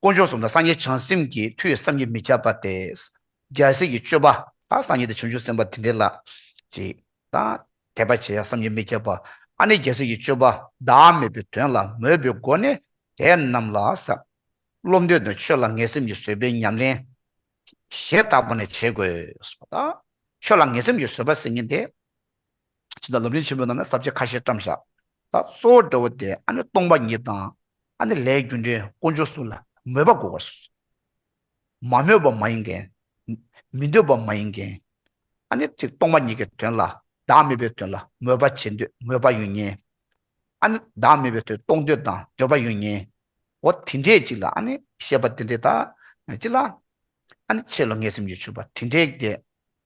དཀོན་མཆོག་གསུམ་དང་སངས་རྒྱས་བྱང་སེམས་ཀྱི་མཐུ་ཡིས་བསམ་གྱིས་མི་ཁྱབ་པ་སྟེ། རྒྱལ་སྲས་ཀྱི་སྤྱོད་པ་དང་སངས་རྒྱས་ཏེ་བྱང་ཆུབ་སེམས་དཔའ་དེ་འདྲའི་ལ། ཅིག། དང། དད་པ་བྱེད་ཡང་བསམ་གྱིས་མི་ཁྱབ་པ། ཨ་ནི་རྒྱལ་སྲས་ཀྱི་སྤྱོད་པ་བདག་མེད་པའི་དོན་ལ་མོས་པའི་སྒོ་ནས་དེ་རྣམས་ལ་ཟབ། བློ་འདོད་དང་ཆོས་ལ་ངེས་སེམས་ཀྱིས་བཟོད་པའི་ཉམས་ལེན། ཞེས་དག་པ་ནས་བྱེད་དགོས། ཆོས་ལ་ངེས་སེམས་ཀྱིས་བཟོད་པ་སེམས་ཉིད་དེ། ཕྱི་དང་ལུས་ལས་ཆེན་པོའི་ནང་ནས་ཟབ་ཆོས་ཁ་ཤས་བཀྲམ་བཞག་ལ་གཙོ་བོ་འདྲ་བོ་སྟེ་ཨ་ནི་སྟོང་པ་ཉིད་དང་ཨ་ནི་ལྷའི་རྒྱུ་འབྲས་དཀོན་མཆོག་གསུམ་ལ་མོས་པ་དགོས་པར་གསུངས། མ་མོས་པ་མ་ཡིན་མཁན། མི་འདོད་པ་མ་ཡིན་མཁན། ཨ་ནི་ཐིག་སྟོང་པ་ཉིད་ཀྱི་དོན་ལ་བདག་མེད་པའི་དོན་ལ་མོས་པ་བྱེད་འདོད་མོས་པ་ཡོད་ངེས། ཨ་ནི་བདག་མེད་པའི་དོན་རྟོགས་འདོད་དང་འདོད་པ་ཡོད་ངེས། འོ་དེ་འདྲའི་ཅིག་ལ་ཨ་ནི་བཤད་པ་འདི་འདྲའི་དག་ཅིག་ལ། ཨ་ནི་ཆེ་ལོ་ངས་སེམས་ཀྱི་ཆུད་པ་དེ་འདྲའི་བརྒྱད།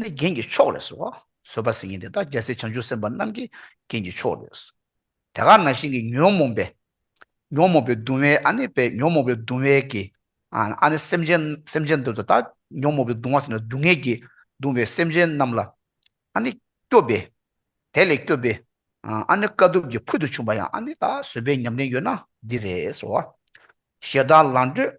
ནི་རྒྱན་གྱི་མཆོག་རེད། བཟོད་པ་སེང་གེ་འདི་དག་རྒྱལ་སྲས་བྱང་ཆུབ་སེམས་དཔའ་རྣམས་ཀྱི་རྒྱན་གྱི་མཆོག་རེད། དེ་ག་ན་ཤིང་གི་ཉོན་མོངས་པས། ཉོན་མོངས་པའི་གདུང་བས་ཨ་ནི་པས་ཉོན་མོངས་པའི་གདུང་བས་ཀྱི། ཨ་ནི་སེམས་ཅན་སེམས་ཅན་འདི་དག་ཉོན་མོངས་པའི་གདུང་བ་སེམས་ལ་སྡུག་བསྔལ་གྱིས་གདུང་བའི་སེམས་ཅན་རྣམས་ལ། ཨ་ནི་སྐྱོབ་པས། དེ་ལས་སྐྱོབ་པས། ཨ་ནི་དཀའ་ཐུབ་ཀྱི་ཕུལ་དུ་བྱུང་བ་ཡང་ཨ་ནི་ལ་བཟོད་པའི་ཉམས་ལེན་ཡོད་ན་འདི་རེད། ཞེ་སྡང་ལང་སྤྲོད།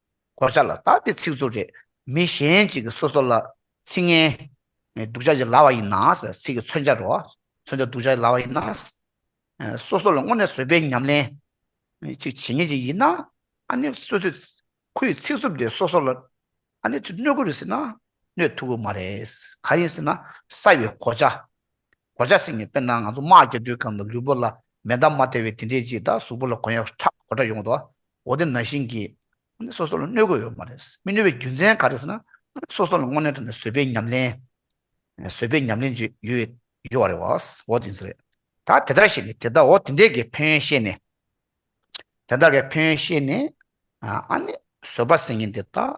གོ་ཆ་ལ་བཏགས་ཏེ་ཚིག་རྩུབ་རེ་མི་གཞན་ཅིག་གིས་སོ་སོ་ལ་ཚིག་ངན། སྡུག་ཆ་ཞིག་ལབ་པ་ཡིན་ན། ཚིག་གི་མཚོན་ཆ་རེ་བ། མཚོན་ཆ་སྡུག་ཆ་ཞིག་ལབ་པ་ཡིན་ན། སོ་སོ་ལ་སྔོན་ནས་བཟོས་པའི་ཉམས་ལེན་ཅིག་བྱེད་ངེས་ཅིག་ཡིན་ན། ཨ་ནི་སོ་སོས་ཁོ་ཡི་ཚིག་རྩུབ་དེ་སོ་སོ་ལ་ཨ་ནི་གནོད་དགོས་རེད་ཟེར་ན་གནོད་ཐུབ་ཀྱི་མ་རེད། གང་ཡིན་ཟེར་ན་བསགས་པའི་གོ་ཆ་གོ་ཆ་སྲིང་ནས་དཔེར་ན་ང་ཚོ་དམག་རྒྱག་དུས་གམ་ལ་ལུས་པོ་ལ་མེ་མདའ་མ་ཐེ་བའི་དེ་འདྲས་ཀྱིས་ད་གཟུགས་པོ་ལ་གོ་ཡག་ཁྲག་གོ་འདྲ་ཡོང་དོ་འོ་དེ་ན་བཞིན་གྱི། དངོས་གནས་སོ་སོ་ལ་གནོད་དགོས་ཡོད་མ་རེད་མི་གནོད་པའི་རྒྱུ་མཚན་ག་རེད་ཟེར་ན་དངོས་གནས་སོ་སོ་ལ་དངོས་གནས་དྲ་ནས་བཟོས་པའི་ཉམས་ལེན། བཟོས་པའི་ཉམས་ལེན་ཅིག་ཡོད་ཡོད་རེད་བ་འོ་དེ་ཟེར། ད་དེ་ལྟར་བཤད་ནས་དེ་ལྟར་འོ་དེ་འདྲས་ཀྱི་ཕན་ཡོན་བཤད་ནས། དེ་ལྟར་གྱི་ཕན་ཡོན་བཤད་ནས། ཨ་ནི་བཟོས་པ་སྲིང་ཡིན་དེ་ད།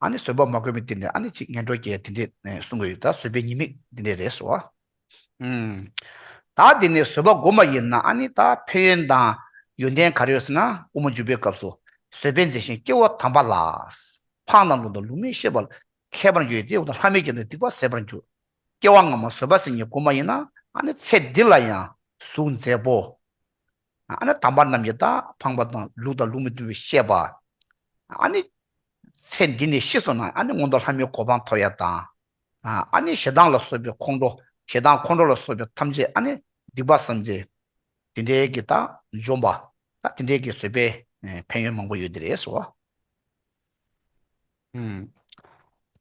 ཨ་ནི་བཟོད་པ་མ་དགོས་མི་དེ་འདྲས་ཨ་ནི་ཅིག་ངན་འགྲོ་རྒྱལ་དེ་འདྲས་གསུང་གི་ཡོད་ད་བཟོད་པའི་ཉེས་དམིགས་དེ་འདྲས་རེད་ཟེར་བ། ད་དེ་ནས་བཟོད་པ་དགོས་མ་ཡིན་ན་ཨ་ནི་ད་ཕན་ཡོན་དང་ཡོན་ཏན་ག་རེ་ཡོད་ཟེར་ན་དབུ་མ་འཇུག་པའི་སྐབས་སུ་བཟོད་པས་མཛེས་ཤིང་སྐྱེ་བོ་དམ་པ་ལ་འཕང་དང་ལུང་དང་ལུང་མི་ཤེས་པ་མཁས་པར་འགྱུར་ཏེ་འོ་ན་ལྷ་མི་དགེ་འདུན་སྡིག་པ་ཟད་པར་འགྱུར། སྐྱེ་བ་སྔ་མ་བཟོད་པ་སེམས་ཉིད་དགོས་མ་ཡིན་ན་ཨ་ནི་ཚེ་འདི་ལ་ཡང་གཟུགས་མཛེས་པོ། ནི་དམ་པ་རྣམས་ཀྱི་དང་འཕངས་པ་དང་ལུགས་དང་ལུགས་མི་མཐུན་པའི་བཤད་པ། ནི། ཚེ་འདི་ནས་ཤི་སོང་ན་ནི་སྔོན་དུ་ལྷ་མིའི་གོ་འཕང་མཐོ་ཡ་དང། ནི་ཞེ་སྡང་ལ་སོགས་པའི་ཁོང་ཁྲོ་ཞེ་སྡང་ཁོང་ཁྲོ་ལ་སོགས་པའི་ཐམས་ཅད་ནི་སྡིག་པ་བསམ་ཚེ། དེ་འདྲའི་གི་དང་འཇོམས་པ། དེ་འདྲའི་གི་བཟོད་པའི་ཕན་ཡོན་མང་པོ་ཡོད་དེ་རེད།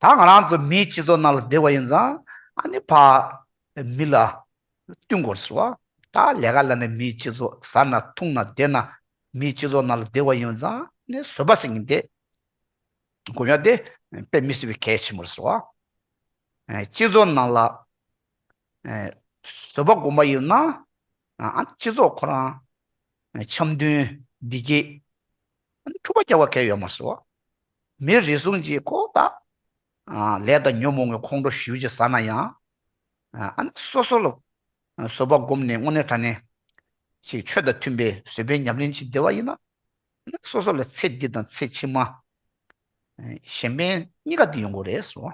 ད་ང་རང་ཚོ་མིའི་སྤྱི་ཚོགས་ནང་ལ་བསྡད་པ་ཡིན་ཙང་ཨ་ནེ་ཕ་མི་ལ་བསྟུན་དགོས་ཟེར་བ། ད་ལས་ཀ་ལ་ནས་མིའི་སྤྱི་ཚོགས་ཟ་ན་འཐུང་ན་བསྡད་ན་མིའི་སྤྱི་ཚོགས་ནང་ལ་བསྡད་པ་ཡིན་ཙང་ནས་བཟོད་པ་ཟིན་གྱིན་བསྡད་དགོས་ཡ་དེ་དཔེ་མི་སྲིད་པའི་གལ་ཆེན་པོ་རེད་ཟེར་བ། སྤྱི་ཚོགས་ནང་ལ་བཟོད་པ་དགོས་པ་ཡིན་ན་ཨ་ནེ་སྤྱི་ཚོགས་ཁོ་རང་འཆམ་མཐུན་བདེ་སྐྱིད་འཁྲུག་པ་སྐྱེ་བ་གལ་ཡོད་མ་སོ། མིའི་རིགས་ཟུང་གཅིག་ཁོག་ལྟ། ལས་དང་ཉོན་མོངས་པའི་ཁོང་ཁྲོ་ཞིའུ་ཅིག་ཟ་ན་ཡང། སོ་སོ་ལ་བཟོད་པ་བསྒོམས་ནས་དངོས་གནས་དྲན་ནས། ཞེས་ཆོས་དང་མཐུན་པའི་བཟོད་པའི་ཉམས་ལེན་བྱེད་བདེ་བ་ཡིན་ན། སོ་སོ་ལ་ཚེ་འདི་དང་ཚེ་ཕྱི་མ། གཞན་ཕན་གཉིས་ཀ་དུ་ཡོང་དགོས་རེད།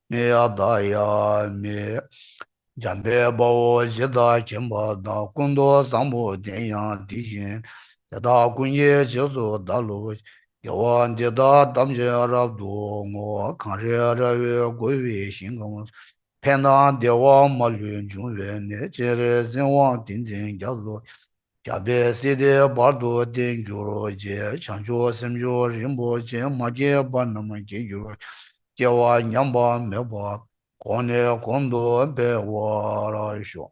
མི་ཡ་དག་ཡ་མི། འཇམ་དཔལ་དཔའ་བོ་ཇི་ལྟར་མཁྱེན་པ་དང་སྐུ་མདོག་བཟང་པོ་ལྡན་ཡང་དེ་བཞིན་དེ་དག་ཀུན་གྱི་རྗེས་སུ་བདག་ལུས། རྒྱལ་བ་འདི་ལྟར་དམ་ཅན་རབ་ཏུ་བསྔོ། གངས་རི་ར་བའི་རྒོད་པའི་ཞིང་ཁམས་སུ། ཕན་དང་བདེ་བ་མ་ལུས་འབྱུང་བའི་གནས། སྤྱན་རས་གཟིགས་དབང་ཏིང་འཛིན་རྒྱ་མཚོ། རྒྱ་བལ་སྲིད་སྡེ་བར་དུ་བརྟན་གྱུར་རྗེས་བྱང་ཆུབ་སེམས་མཆོག་རིན་པོ་ཆེ་མ་སྐྱེས་པ་རྣམས་སྐྱེ་འགྱུར་སྐྱེ་བ་ཉམས་པ་མེད་པར་གོང་ནས་གོང་དུ་འཕེལ་བར་ཤོག།